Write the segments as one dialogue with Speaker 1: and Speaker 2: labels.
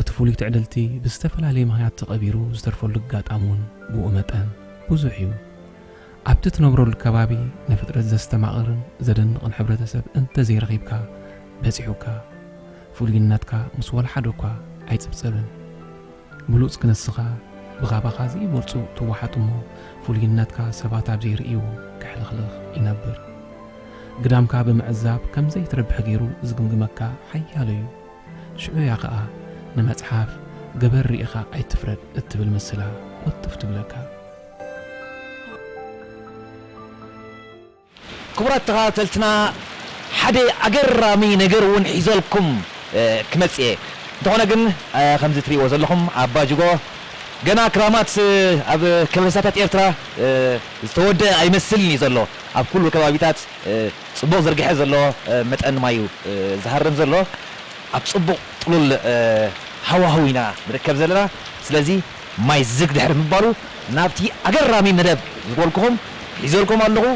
Speaker 1: እቲ ፍሉይ ትዕድልቲ ብዝተፈላለየ ምኽንያት ተቐቢሩ ዝተርፈሉ ኣጋጣሚ እውን ብኡ መጠን ብዙሕ እዩ። ኣብቲ ትነብረሉ ከባቢ ንፍጥረት ዘስተማቕርን ዘደንቕን ሕብረተሰብ እንተዘይረኺብካ በጺሑካ ፍሉይነትካ ምስ ወላሓደ እኳ ኣይጽብጸብን። ብሉጽ ክንስኻ ብኻባኻ ዘይበልጹ ትወሓጥ እሞ ፍሉይነትካ ሰባት ኣብ ዘይርእይዎ ክሕልኽልኽ ይነብር። ግዳምካ ብምዕዛብ ከም ዘይትረብሕ ገይሩ ዝግምግመካ ሓያሎ እዩ። ሽዑ እያ ኸኣ ንመጽሓፍ ገበር ርኢኻ ኣይትፍረድ እትብል ምስላ ቁጥፍ ትብለካ።
Speaker 2: ክቡራት ተኸታተልትና ሓደ ኣገራሚ ነገር እውን ሒዘልኩም ክመጽእ እየ። እንተኾነ ግን ከምዚ ትርእይዎ ዘለኹም ኣባጅጎ ገና ክራማት ኣብ ከበሳታት ኤርትራ ዝተወደኣ ኣይመስልን እዩ ዘሎ። ኣብ ኩሉ ከባቢታት ጽቡቕ ዝርግሐ ዘለዎ መጠን ማይ'ዩ ዝሃርም ዘሎ። ኣብ ጽቡቕ ጥሉል ሃዋህው ኢና ንርከብ ዘለና። ስለዚ ማይ ዝግ ድሕሪ ምባሉ ናብቲ ኣገራሚ መደብ ዝበልኩኹም ሒዘልኩም ኣለኹ።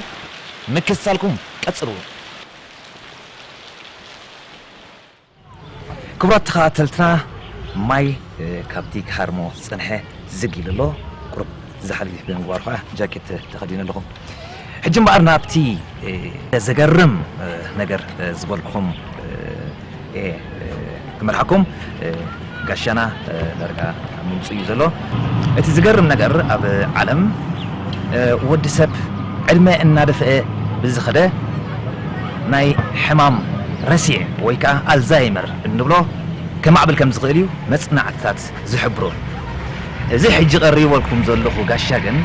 Speaker 2: ምክትታልኩም ቀጽልዎ። ክቡራት ተኸታተልትና ማይ ካብቲ ክሃርሞ ዝጸንሐ ዝግ ኢሉ ኣሎ ቁሩብ ዝሓልፍ ብምግባሩ ከዓ ጃኬት ተኸዲኑ ኣለኹ ሕጂ እምበኣር ናብቲ ዘገርም ነገር ዝበልኩም ክመርሓኩም ጋሻና ዳርጋ ምምጽኡ እዩ ዘሎ። እቲ ዝገርም ነገር ኣብ ዓለም ወዲ ሰብ ዕድመ እናደፍኤ ብዝኸደ ናይ ሕማም ረሲዕ ወይ ከኣ ኣልዛይመር እንብሎ ከማዕብል ከም ዝኽእል እዩ መጽናዕትታት ዝሕብሩ። እዚ ሕጂ ቀሪበልኩም ዘለኹ ጋሻ ግን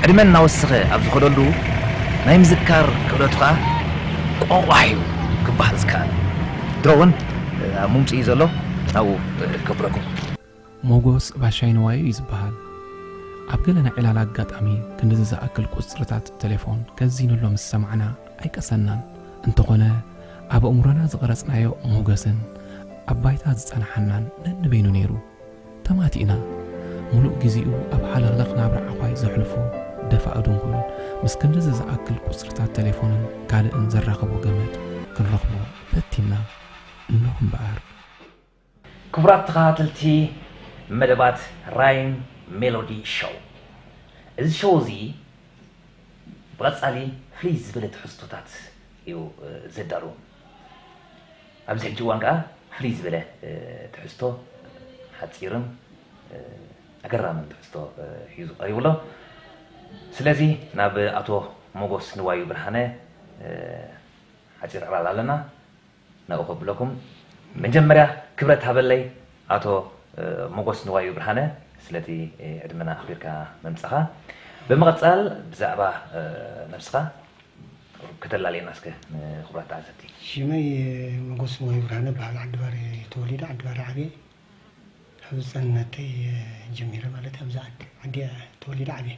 Speaker 2: ዕድመ እናወሰኸ ኣብ ዝኸደሉ ናይ ምዝካር ክእለቱ ከኣ ቆቋሕ እዩ ክበሃል ዝከኣል። ድሮ እውን ኣብ ሙምጽ እዩ ዘሎ ኣብኡ ከብረኩም። ሞጎስ
Speaker 1: ባሻይ ንዋይ እዩ ዝበሃል። ኣብ ገለ ናይ ዕላል ኣጋጣሚ ክንድዚ ዝኣክል ቁጽርታት ተሌፎን ከዚኑሎ ምስ ሰማዕና ኣይቀሰናን። እንተኾነ ኣብ ኣእምሮና ዝቐረጽናዮ ሞገስን ኣብ ባይታ ዝጸናሓናን ነንበይኑ ነይሩ። ተማቲእና። ምሉእ ግዜኡ ኣብ ሃለኽለኽ ናብራ ዓዃይ ዘሕልፎ ደፋኢ ድንኩል ምስ ክንድዚ ዝኣክል ቁጽርታት ተሌፎንን ካልእን ዘራኽቦ ገመድ ክንረኽቦ ፈቲና እነኹ እምበኣር።
Speaker 2: ክቡራት ተኸታተልቲ መደባት ራይን ሜሎዲ ሾው እዚ ሾው እዚ ብቐጻሊ ፍልይ ዝበለ ትሕዝቶታት እዩ ዘዳሉ። ኣብዚ ሕጂ እዋን ከኣ ፍልይ ዝበለ ትሕዝቶ ሓጺርን ኣገራምን ትሕዝቶ ሒዙ ቀሪቡ ኣሎ። ስለዚ ናብ ኣቶ ሞጎስ ንዋዩ ብርሃነ ሓጺር ዕላል ኣለና ናብኡ ከብለኩም መጀመርያ ክብረት ሃበለይ ኣቶ ሞጎስ ንዋዩ ብርሃነ ስለቲ ዕድመና ኣኽቢርካ ምምጻኻ ብምቕጻል ብዛዕባ ነብስኻ ከተላልየና እስከ ንኽብራት ተዓዘብቲ። ሽመይ
Speaker 3: ሞጎስ ንዋዩ ብርሃነ እብሃል ዓዲ ባር እየ ተወሊደ ዓዲ ባር ዓብየ ካብ ህጻንነተይ ጀሚረ ማለት ኣብዛ ዓዲ ዓዲ እየ ተወሊደ ዓብየ።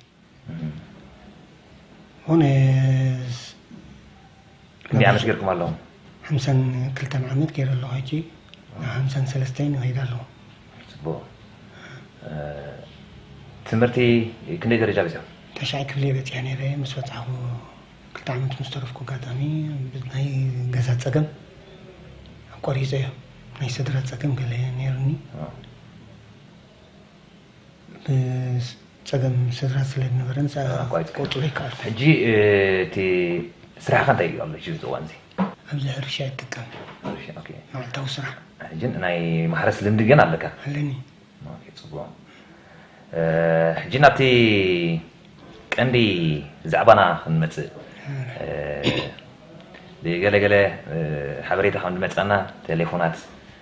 Speaker 3: ሆነስ
Speaker 2: ክንደይ ዓመት ጌርኩም ኣለኹም? ሓምሳን
Speaker 3: ክልተን ዓመት ገይረ ኣለኹ ሕጂ ሓምሳን ሰለስተን ይኸይድ ኣለኹ።
Speaker 2: ፅቡቕ ትምህርቲ ክንደይ ደረጃ በፂኹም? ታሽዓይ ክፍሊ በፂሐ
Speaker 3: ነይረ ምስ ወፃኹ ክልተ ዓመት ምስ ተረፍኩ ኣጋጣሚ ናይ ገዛ ፀገም ኣቋሪፀ እዮ ናይ ስድራ ፀገም ገለ ነይሩኒ ብጸገም ስድራ ስለ ዝነበረ ንሳ ክቆጽሮ ኣይከኣልኩን። ሕጂ እቲ
Speaker 2: ስራሕኻ እንታይ እዩ ኣብዚ ሕዚ እዋን እዚ? ኣብዚ ሕርሻ
Speaker 3: ይጥቀም
Speaker 2: መዓልታዊ ስራሕ።
Speaker 3: ሕጂ ናይ
Speaker 2: ማሕረስ ልምዲ ግን ኣለካ? ኣለኒ።
Speaker 3: ኦኬ ጽቡቕ።
Speaker 2: ሕጂ ናብቲ ቀንዲ ዛዕባና ክንመጽእ ብገለ ገለ ሓበሬታ ከም ዝመጸና ቴሌፎናት፣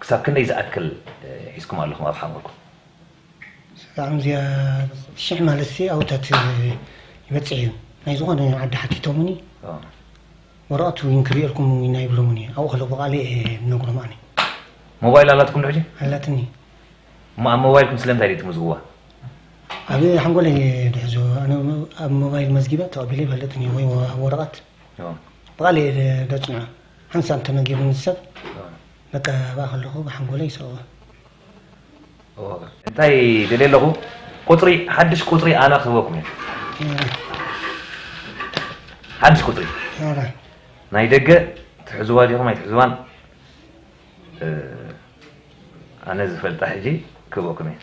Speaker 2: ክሳብ ክንደይ ዝኣክል ሒዝኩም ኣለኹም ኣብ ሓሙርኩም?
Speaker 3: ሰላም እዚኣ ሽሕ ማለትሲ ኣውታት ይበፅሕ እዩ ናይ ዝኾነ ዓዲ ሓቲቶሙኒ ወረቐት እውን ክርእየልኩም ኢና ይብሎሙኒ ኣብኡ ከሎ ብቓለ እየ ንነግሮም ኣነ ሞባይል
Speaker 2: ኣላትኩም ዶ ሕጂ ኣላትኒ
Speaker 3: እሞ ኣብ
Speaker 2: ሞባይልኩም ስለምንታይ ድዩ ትምዝግዋ ኣብ
Speaker 3: ሓንጎለ እየ ድሕዞ ኣነ ኣብ ሞባይል መዝጊበ ተቐቢለ ይፈልጥን እየ ወይ ወረቐት ብቓለ እየ ደፅንዖ ሓንሳብ ተመጊቡ ምስ ሰብ መቀባባኣ ከለኹ ብሓንጎለይ ይስዕቦ።
Speaker 2: እንታይ ደልየ ኣለኹ ቁጽሪ ሓድሽ ቁጽሪ ኣና ክህበኩም እየ። ሓድሽ ቁጽሪ ናይ ደገ ትሕዝዋ ዲኹም ኣይትሕዝዋን ኣነ ዝፈልጣ ሕጂ ክህበኩም እየ።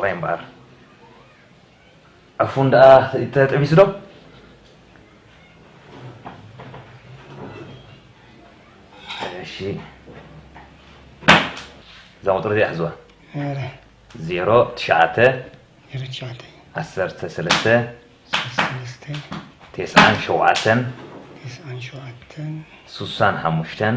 Speaker 2: ራይ እምበኣር ዕፉን ደኣ ተጥቢሱ ዶ? እሺ እዛ ቁፅሪ እዚኣ ሕዝዋ ዜሮ ትሽዓተ ዓሰርተ ሰለስተ ቴስዓን ሸውዓተን ስሳን ሓሙሽተን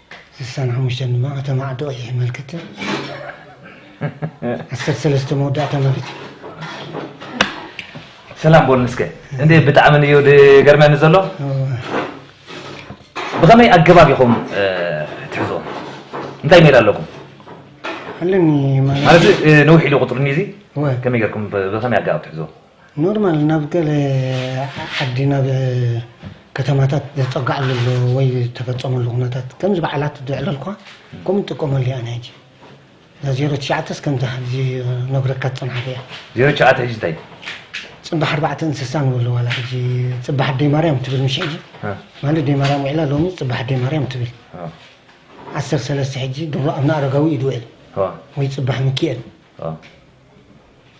Speaker 3: ስሳን ሓሙሽተን ድማ ኣተ ማዕዶ ቀይሕ የመልክት። ዓሰርተ ሰለስተ መወዳእታ ማለት እዩ።
Speaker 2: ሰላም ቦል ንስከ እንዴ ብጣዕሚ ንዮ ገርመኒ ዘሎ ብኸመይ ኣገባብ ኢኹም ትሕዞ እንታይ ሜላ ኣለኩም ኣለኒ
Speaker 3: ማለት
Speaker 2: ነዊሕ ኢሉ ቁፅሪ እዚ ከመይ ገርኩም ብኸመይ ኣገባብ ትሕዞ ኖርማል ናብ
Speaker 3: ገለ ዓዲ ናብ ከተማታት ዘጸግዓሉ ኣሎ ወይ ዝተፈጸመሉ ኩነታት ከምዚ በዓላት ዝዕለልኳ ከምኡ ንጥቀመሉ ኢና ሕጂ እዛ ዜሮ ትሽዓተስ ከምዚ ሕዚ ነግረካ ዝጸንሓኩ እያ ዜሮ ትሽዓተ ሕጂ
Speaker 2: እንታይ ጽባሕ
Speaker 3: ኣርባዕተ እንስሳ ንበሎ ዋላ ሕጂ ጽባሕ ኣደይ ማርያም ትብል ምሽ ሕጂ ማለት ኣደይ ማርያም ውዒላ ሎሚ ጽባሕ ኣደይ ማርያም ትብል ዓሰር ሰለስተ ሕጂ ድሮ ኣብነ ኣረጋዊ እዩ ዝውዕል ወይ ጽባሕ ሚኪኤል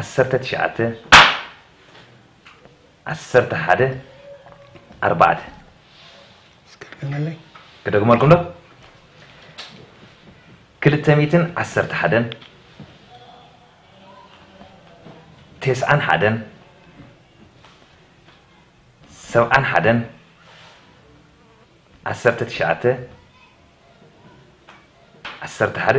Speaker 2: ዓሰርተ ትሽዓተ ዓሰርተ ሓደ ኣርባዕተ ክደግመልኩም ዶ ክልተ ሚእትን ዓሰርተ ሓደን ቴስዓን ሓደን ሰብዓን ሓደን ዓሰርተ ትሽዓተ ዓሰርተ ሓደ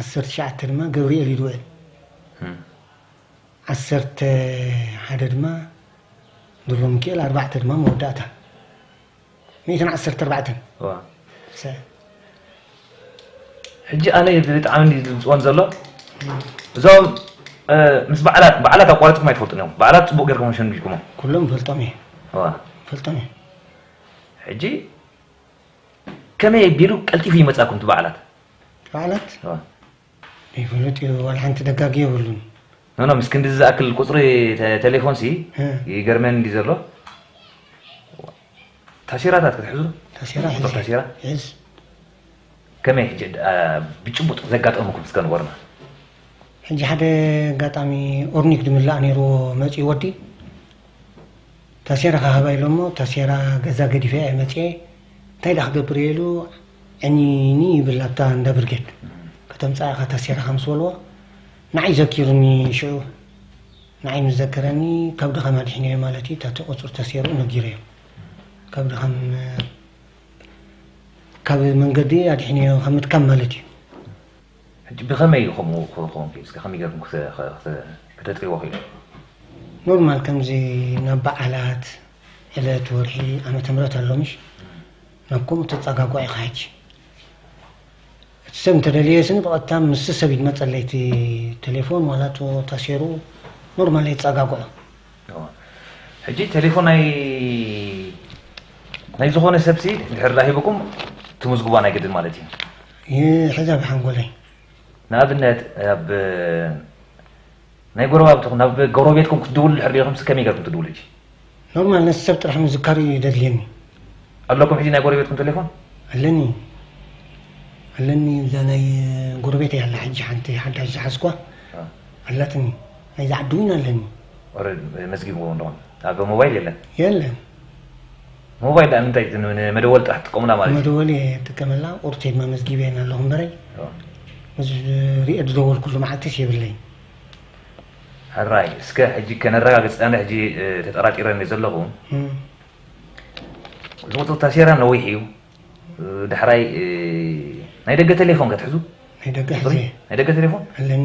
Speaker 3: ዓሰርተ ትሽዓተ ድማ ገብሪኤል ኢድ ውዕል ዓሰርተ ሓደ ድማ ድሮ ምኪኤል ኣርባዕተ ድማ መወዳእታ ሚእትን ዓሰርተ ኣርባዕተን
Speaker 2: ሕጂ ኣነ ብጣዕሚ ዝፅወን ዘሎ እዞም ምስ በዓላት በዓላት ኣቋሪፅኩም ኣይትፈልጡን እዮም በዓላት ፅቡቅ ጌርኩም ሸንጊልኩሞ ኩሎም ፈልጦም እየ
Speaker 3: ፈልጦም
Speaker 2: እየ ሕጂ ከመይ ኣቢሉ ቀልጢፉ ይመፃኩም እቲ በዓላት ማለት
Speaker 3: ይፍሉጥ እዩ ዋላ ሓንቲ ደጋጊ የብሉን ኖኖ ምስ ክንዲ
Speaker 2: ዝኣክል ቁፅሪ ቴሌፎን ሲ ይገርመን እንዲ ዘሎ ታሴራታት ክትሕዙ ታሴራ ቁፅሪ ታሴራ ሒዝ ከመይ ሕጂ ብጭቡጥ ዘጋጠሙኩም እስከ ንገሩና ሕጂ
Speaker 3: ሓደ ኣጋጣሚ ኦርኒክ ድምላእ ነይርዎ መፅኡ ወዲ ታሴራ ክሃባ ኢሎ እሞ ታሴራ ገዛ ገዲፈ እየ መፅየ እንታይ ድኣ ክገብር እየ ኢሉ ዕንይንይ ይብል ኣብታ እንዳ ብርጌድ ከተምፅኣ ኢኻ ታሴራኻ ምስ በልዎ ንዓይ ዘኪሩኒ ሽዑ ንዓይ ምስ ዘከረኒ ካብ ድኻም ኣድሒነዮ ማለት እዩ ታቲ ቁፅሪ ታሴርኡ ነጊረዮ ካብ ድኻም ካብ መንገዲ ኣድሒነዮ ካብ ምድካም ማለት እዩ
Speaker 2: ሕጂ ብከመይ እዩ ከምኡ ክከውን ክኢሉ እስከ ከመይ ገርኩም ከተጥርይዎ ክኢልኩም። ኖርማል
Speaker 3: ከምዚ ናብ በዓላት ዕለት ወርሒ ዓመተ ምህረት ኣሎ ምሽ ናብ ከምኡ ተጻጋጓ ኢካ ሕጂ እቲ ሰብ እንተደልየ ስኒ ብቐጥታ ምስ ሰብ ይመጸለይ እቲ ቴሌፎን ዋላ እቶ ታሴሩ ኖርማል የጻጋግዖ
Speaker 2: ሕጂ ቴሌፎን ናይ ናይ ዝኾነ ሰብሲ ድሕር ሂብኩም ትምዝግቧ ናይ ግድን ማለት እዩ ይሕዝ
Speaker 3: ኣብ ሓንጎለይ። ንኣብነት
Speaker 2: ኣብ ናይ ጎረባብትኹም ናብ ጎረቤትኩም ክትድውሉ ድሕር ሪኢኹምስ ከመይ ገርኩም ትድውሉ ሕጂ? ኖርማል ነቲ
Speaker 3: ሰብ ጥራሕ ምዝካር እዩ ደድልየኒ። ኣለኩም
Speaker 2: ሕጂ ናይ ጎረቤትኩም ቴሌፎን? ኣለኒ
Speaker 3: ኣለኒ እዛ ናይ ጎረቤተይ ኣላ ሕጂ ሓንቲ ሓዳሽ ዝሓዝኳ ኣላትኒ ናይዛ ዓዲ እውን ኣለኒ። ኦረዲ
Speaker 2: መዝጊብዎ ኣለኹም ኣብ ሞባይል የለን? የለን። ሞባይል ድኣ ንምንታይ እቲ ንመደወሊ ጥራሕ ትጥቀሙላ ማለት እዩ? መደወሊ እየ እጥቀመላ
Speaker 3: ቁርተይ መመዝጊበየን ኣለኹ እምበረይ ምስ ሪኤ ዝደወልኩሉ መዓልቲስ የብለይን።
Speaker 2: ሕራይ እስከ ሕጂ ከነረጋግጽ ኣነ ሕጂ ተጠራጢረ እንደ ዘለኹ ዝቕጽ ታሴራ ነዊሕ እዩ ዳሕራይ ናይ ደገ ቴሌፎን ከትሕዙ ናይ ደገ ሕዘ
Speaker 3: ናይ ደገ ቴሌፎን ኣለኒ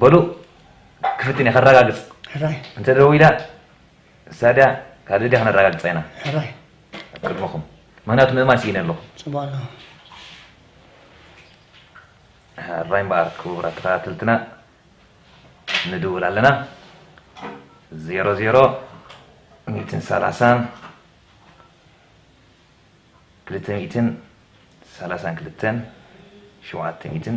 Speaker 2: በሉ ክፍትን እየ ከረጋግፅ ሕራይ እንተ
Speaker 3: ደዊላ
Speaker 2: እሳ ድያ ካልእ ድያ ክነረጋግፃ ኢና ሕራይ
Speaker 3: ኣብ ቅድመኹም
Speaker 2: ምክንያቱ ምእማን ስኢነ ኣለኹ ፅቡቅ ኣለኹ ሕራይ እምበኣር ክቡራት ተኸታተልትና ንድውል ኣለና ዜሮ ዜሮ ሚእትን ሰላሳን ክልተ ሚእትን ሰላሳን ክልተን ሸውዓተ ሚእትን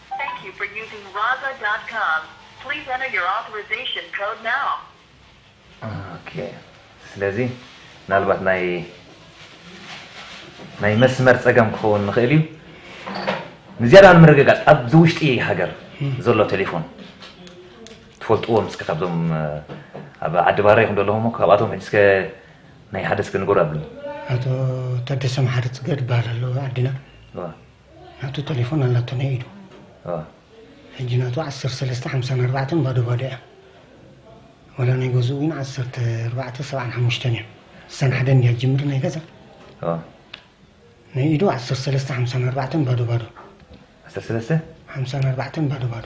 Speaker 4: Thank you for using Raza dot com. Please enter your authorization code
Speaker 2: now. ኦኬ ስለዚ ምናልባት ናይ ናይ መስመር ጸገም ክኸውን ንኽእል እዩ ንዝያዳ ንምርግጋጽ ኣብዚ ውሽጢ ሃገር ዘሎ ቴሌፎን ትፈልጥዎም እስከ ካብዞም ኣብ ዓዲ ባረ ይኹን ዘለኹም ካብኣቶም ሕጂ እስከ ናይ ሓደ እስከ ንገሩ ኣብልኒ ኣቶ
Speaker 3: ታደሰ መሓሪ ፅገ ዝበሃል ኣሎ ዓድና ናቱ ተሌፎን ኣላቶ ናይ ኢዱ ሕጂ ናቱ ዓሰርተ ሰለስተ ሓምሳን ኣርባዕተን ባዶ ባዶ እያ ዋላ ናይ ገዝኡ እውን ዓሰርተ ኣርባዕተ ሰብዓን ሓሙሽተን እያ እሳን ሓደ እንድያ ጅምር ናይ ገዛ ናይ ኢዱ ዓሰርተ ሰለስተ ሓምሳን ኣርባዕተን ባዶ ባዶ ዓሰርተ ሰለስተ
Speaker 2: ሓምሳን ኣርባዕተን
Speaker 3: ባዶ ባዶ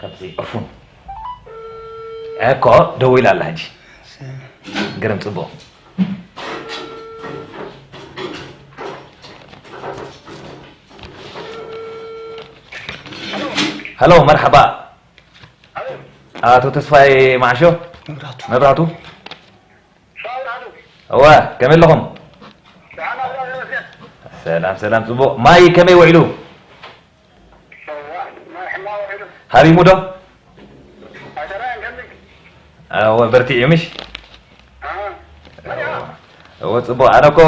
Speaker 2: ካብዚ ዕፉን ዕኮ ደው ኢላ ኣላ ሕጂ ግርም ፅቡቕ ሀሎ መርሓባ ኣቶ ተስፋይ ማዕሾ መብራቱ እወ ከመይ ኣለኹም ሰላም ሰላም ፅቡቕ ማይ ከመይ ውዒሉ ሃሪሙ ዶ እወ በርቲዑ ምሽ እወ ፅቡቅ ኣነ እኮ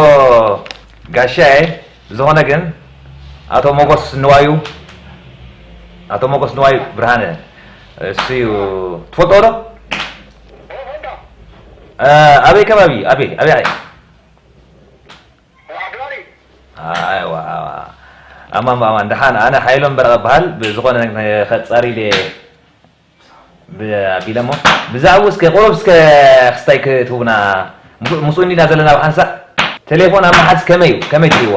Speaker 2: ጋሻ እየ ብዝኾነ ግን ኣቶ ሞጎስ ንዋዩ ኣቶ ሞጎስ ንዋዩ ብርሃነ እሱ እዩ ትፈልጦ ዶ ኣበይ ከባቢ ኣበይ ኣበይ ኣማን ብኣማን ደሓን ኣነ ሓይሎም በረቐ በሃል ብዝኾነ ከፃሪ ኢለ ኣቢለ እሞ ብዛዕብኡ እስከ ቁሩብ እስከ ክስታይ ክትህቡና ምስኡ እንዲና ዘለና ብሓንሳእ ቴሌፎን ኣብ መሓዝ ከመይ እዩ ከመይ ትሪእዎ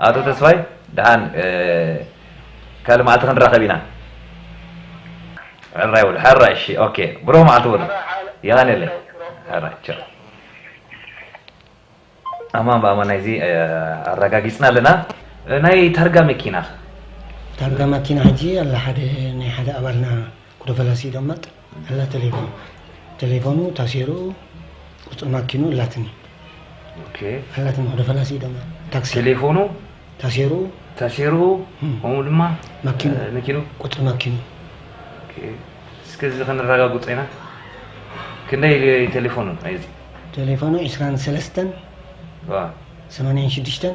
Speaker 2: ኣቶ ተስፋይ ደሓን ካልእ መዓልቲ ክንራኸብ ኢና። ሕራይ በሉ ሕራይ እሺ ኦኬ ብሩኽ መዓልቲ በሉ የቀኔለይ ሕራይ ቻው። ኣማን ብኣማን ናይዚ ኣረጋጊጽና ኣለና ናይ ታርጋ መኪና። ታርጋ
Speaker 3: ማኪና ሕጂ ኣላ ሓደ ናይ ሓደ ኣባልና ኩደፈላሲ ዶመጥ። እላ ተሌፎኑ ተሌፎኑ ታሴሩ ቁፅሪ ማኪኑ እላትኒ
Speaker 2: እላትኒ ወደ ፈላሲ
Speaker 3: ደማ ታክሲ ተሌፎኑ
Speaker 2: ታሴሩ ታሴሩ ከምኡ ድማ ማኪኑ መኪኑ ቁፅሪ ማኪኑ እስከ እዚ ክንረጋግፆ ኢና ክንደይ ተሌፎኑ ናይዚ ተሌፎኑ ዕስራን
Speaker 3: ሰለስተን
Speaker 2: ሰማንያን ሽዱሽተን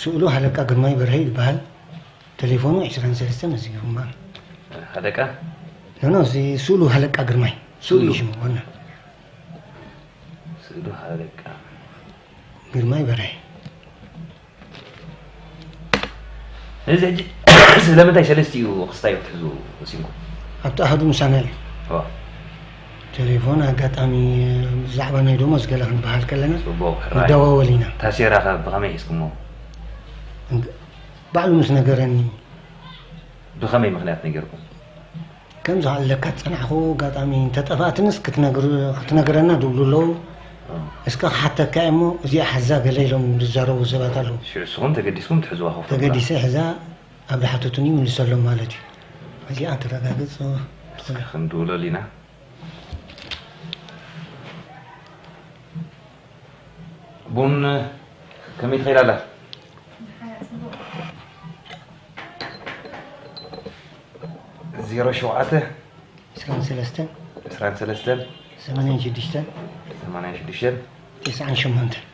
Speaker 2: ስእሉ
Speaker 3: ሃለቃ ግርማይ በርሀ ይበሃል ተሌፎኑ ዕስራን ሰለስተን እዚ ግርማ ሃለቃ
Speaker 2: ኖኖ
Speaker 3: እዚ ስእሉ ሃለቃ ግርማይ ስእሉ እዩ ሽሙ ዋና
Speaker 2: ስእሉ ሃለቃ
Speaker 3: ግርማይ በርሀ
Speaker 2: እዚ ሕጂ ስለምንታይ ሰለስቲኡ ክስታዮ ክትሕዙ ወሲንኩም? ኣብቲ ኣሃዱ
Speaker 3: ምሳና እዩ። ቴሌፎን ኣጋጣሚ ብዛዕባ ናይ ደሞዝ ገለ ክንበሃል ከለና ንደዋወል ኢና። ታሴራ ከ
Speaker 2: ብኸመይ ሒዝኩሞ?
Speaker 3: ባዕሉ ምስ ነገረኒ።
Speaker 2: ብኸመይ ምክንያት ነጊርኩም? ከም
Speaker 3: ዝሃለካ ዝጸናሕኩ ኣጋጣሚ እንተ ጠፋኣትንስ ክትነግረና ድብሉ ኣለዉ እስከ ክሓተካ እየ እሞ እዚኣ ሓዛ ገለ ኢሎም ዝዛረቡ ሰባት ኣለዉ ሽዑ እስኹም ተገዲስኩም
Speaker 2: ትሕዝዋ ከፍቶ ብላ። ተገዲሰ ሕዛ
Speaker 3: ኣብ ዝሓተቱኒ ይምልሰሎም ማለት እዩ እዚኣ ክተረጋግጽ እስከ ትኽእል
Speaker 2: ክንድውለሉ ኢና። ቡን ከመይ ትኸይድ ኣላ? ደሓር እያ ጽቡቕ። ዜሮ ሸውዓተ ዕስራን ሰለስተን
Speaker 3: ዕስራን ሰለስተን ሰማንያን
Speaker 2: ሽዱሽተን ሰማንያን ሽዱሽተን ቴስዓን
Speaker 3: ሸሞንተን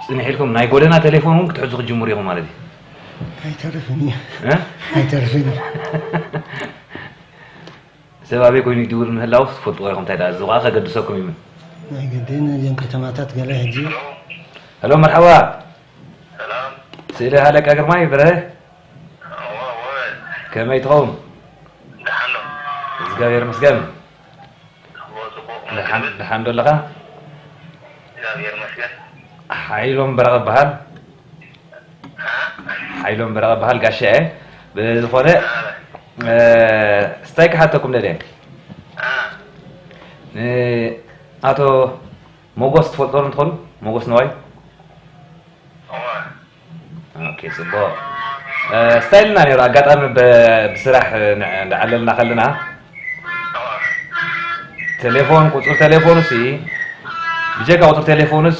Speaker 2: ፅንሕ ኢልኩም ናይ ጎደና ቴሌፎን እውን ክትሕዙ ክትጅምሩ ኢኹም ማለት እዩ ኣይተርፍን
Speaker 3: እዩ ኣይተርፍን እዩ
Speaker 2: ሰብ ኣበይ ኮይኑ ይድውል ምህላዉስ ትፈልጥዎ ኢኹም፣ እንታይ ደኣ እዚ ኹኣ ከገድሰኩም ይምን። ናይ ግድን
Speaker 3: ነዚኦም ከተማታት ገለ ሕጂ። Hello
Speaker 2: መርሐባ ሰላም
Speaker 5: ስእሊ
Speaker 2: ሃለቃ ግርማይ በርሀ እወ እወ ከመይ ትኸውን
Speaker 5: ደሓን ዶ እዝጋብሄር
Speaker 2: ይመስገን እወ ጽቡቕ መን
Speaker 5: ደሓን ትብል ደሓን ዶ ኣለኻ
Speaker 2: እግዚኣብሔር
Speaker 5: ይመስገን ሓይሎም
Speaker 2: በረቐ እበሃል ሓይሎም በረቐ እበሃል ጋሻ እየ ብዝኾነ ስታይ ክሓተኩም ደልየ ንኣቶ ሞጎስ ትፈልጦ ዶ እንትኾኑ ሞጎስ ነዋይ ፅቡቕ ስታይ ኢልና ነይሩ ኣጋጣሚ ብስራሕ እንዳዓለልና ከለና ቴሌፎን ቁፅሪ ቴሌፎኑ ሲ ብጀካ ቁፅሪ ቴሌፎኑስ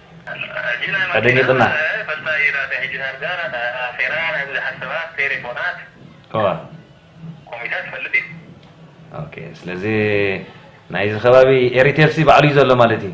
Speaker 5: ኣደኒቅና።
Speaker 2: ስለዚ ናይዚ ከባቢ ኤሪቴርሲ ባዕሉ እዩ ዘሎ ማለት
Speaker 5: እዩ።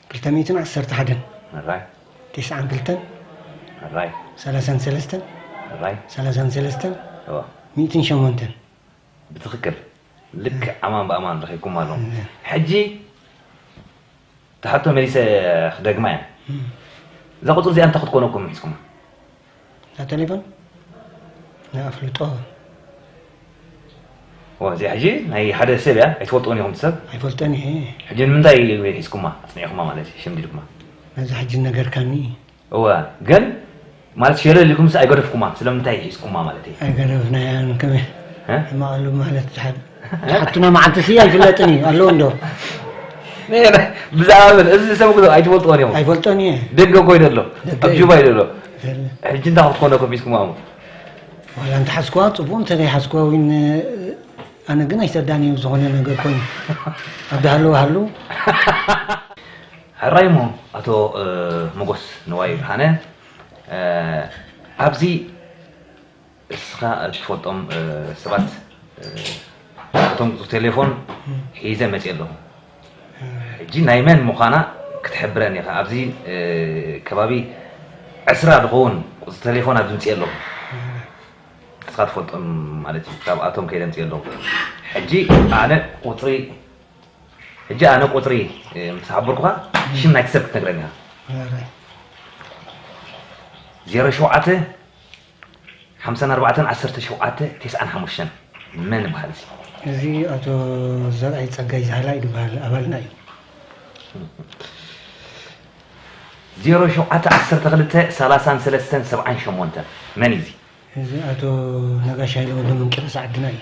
Speaker 2: ክልተ ሚእትን ዓሰርተ
Speaker 3: ሓደን ሕራይ
Speaker 2: ቴስዓን ክልተን
Speaker 3: ሕራይ
Speaker 2: ሰላሳን ሰለስተን
Speaker 3: ሕራይ
Speaker 2: ሰላሳን ሰለስተን
Speaker 3: እወ ሚእትን
Speaker 2: ሸሞንተን
Speaker 3: ብትኽክል
Speaker 2: ልክዕ ኣማን ብኣማን ረኺብኩማ ኣለኹም እም። ሕጂ እታ ሕቶ መሊሰ ክደግማ እየ እም። እዛ ቁጽሪ እዚኣ እንታይ ክትኮነኩም ምሒዝኩማ
Speaker 3: ናተሌፎን ንኣፍልጦ ዋ
Speaker 2: እዚኣ ሕጂ ናይ ሓደ ሰብ እያ ኣይትፈልጥዎን ኢኹም ሰብ ኣይፈልጠን እየ
Speaker 3: ሕጂ ንምንታይ
Speaker 2: ሒዝኩማ ኣፅኒዕኹማ ማለት እዩ ሸምዲድኩማ ነዚ ሕጂ
Speaker 3: ነገርካኒ እወ
Speaker 2: ግን ማለት ሸለል ኢልኩምስ ኣይገደፍኩማ ስለምንታይ ሒዝኩማ ማለት እዩ ኣይገደፍናያን
Speaker 3: ከመይ ሕማቕሉ ማለት ዝሓብ ሓቱና መዓልቲ ስይ ኣይፍለጥን እዩ ኣለዎ እንዶ ብዛዕባ
Speaker 2: ምን እዚ ሰብ ክዶ ኣይትፈልጥዎን እዮም ኣይፈልጦን እየ ደገ
Speaker 3: ኮይነ ኣሎ
Speaker 2: ኣብ ጁባ ኢሉ ኣሎ ሕጂ እንታይ ክትኮነ ከፊትኩማ እሞ ዋላ
Speaker 3: እንተሓዝኩዋ ፅቡቅ እንተዘይሓዝኩዋ እውን ኣነ ግን ኣይተዳን እዩ ዝኾነ ነገር ኮይኑ ኣብ ዳሃለዎ ሃሉ
Speaker 2: ሕራይ እሞ ኣቶ መጎስ ንዋይ ብርሃነ ኣብዚ እስኻ እትፈልጦም ሰባት ናቶም ቴሌፎን ሒዘ መፅየ ኣለኹ ሕጂ ናይ መን ምዃና ክትሕብረኒ ኢኻ ኣብዚ ከባቢ ዕስራ ዝኸውን ቁፅሪ ቴሌፎን ኣብዚ ምፅየ ኣለኹ እስኻ ትፈልጦም ማለት እዩ ካብኣቶም ከይደ ምፅየ ኣለኹ ሕጂ ኣነ ቁፅሪ ሕጂ ኣነ ቁፅሪ ምስ ሓበርኩኻ ሽም ናይቲ ሰብ ክትነግረኒ ኢኻ ዜሮ ሸውዓተ ሓምሳን ኣርባዕተን ዓሰርተ ሸውዓተ ቴስዓን ሓሙሽተን መን ይብሃል እዚ? እዚ ኣቶ
Speaker 3: ዘርኣይ ጸጋይ ዛህላይ ድበሃል ኣባልና እዩ።
Speaker 2: ዜሮ ሸውዓተ ዓሰርተ ክልተ ሰላሳን ሰለስተን
Speaker 3: ሰብዓን
Speaker 2: ሸሞንተን መን እዩ እዚ?
Speaker 3: እዚ
Speaker 2: ኣቶ
Speaker 3: ነጋሽ
Speaker 2: ሃይለ
Speaker 3: ወልደመንቂሮስ ዓድና እዩ።